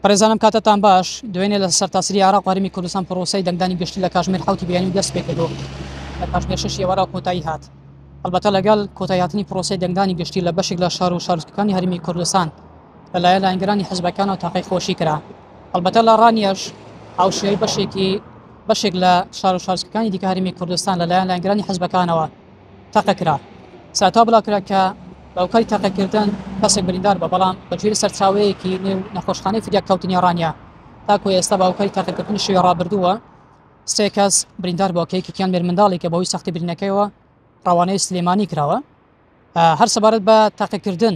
بەڕێزانم کاتتان باش دوێنێ لە سەرتاسری عراق هەرمی کوردستان پرۆسی دەنگدانی گشتی لە کاژمێر حوتی بیانی دەست پێکردو لە کاژمێر شش ئێوارە کۆتایی هات هەڵبەتە لەگەڵ کۆتایاتنی پرۆسی دەنگدانی گشتی لە بەشێک لە شار و شارستکەکانی هەرمی کوردستان لەلایە لاینگرانی حزبەکان و تاقی خۆشی کرا هەڵبەتە لە ڕانیش هاوشێوەی بەشێکی بەشێک لە شار و شارستکەکانی دیکە هەرمی کوردستان لەلایەن لاینگرانی حزبەکانەوە تەقە کرا. ساتا بڵاوکرا کە هۆکاری تەقەکردن کەسێک بریندار بە بەڵام بە گوێری سەرچاوەیەکی نێو نەخۆشخانەی فدیاک کەوتنی ڕانیە تاکو ئێستا بە هۆکاری تەقەکردنی شوێ ڕابردووە سێ کەس بریندار بۆ کە یەکێکیان مێرمنداڵێکە بەوەی سەختی برینەکەیەوە ڕەوانەی سلێمانی کراوە هەر سەبارەت بە تاقیکردن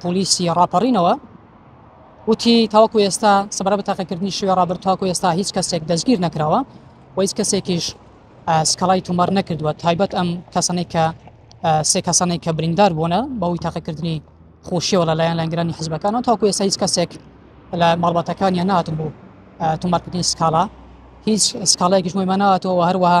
پۆلیسی ڕاپەڕینەوە وتی تاوەکو ئێستا سەبارە بە تاقیکردنی شوێ ڕابرد تاکو ئێستا هیچ کەسێک دەستگیر نەکراوە و هیچ کەسێکیش سکەڵای تومەر نەکردووە تایبەت ئەم کەسانەی کە سێ کەسانێک کە بریندار بوونە بەوەی تاقیکردنی خۆشیەوە لە لایەن لەنگرانی حزبەکانەوە تاکو ئێستا هیچ کەسێک لە ماڵباتەکانیان ناتن بوو تومارکردنی سکاڵا هیچ سکاڵایەکیش مۆیمانەوەەوە هەروەها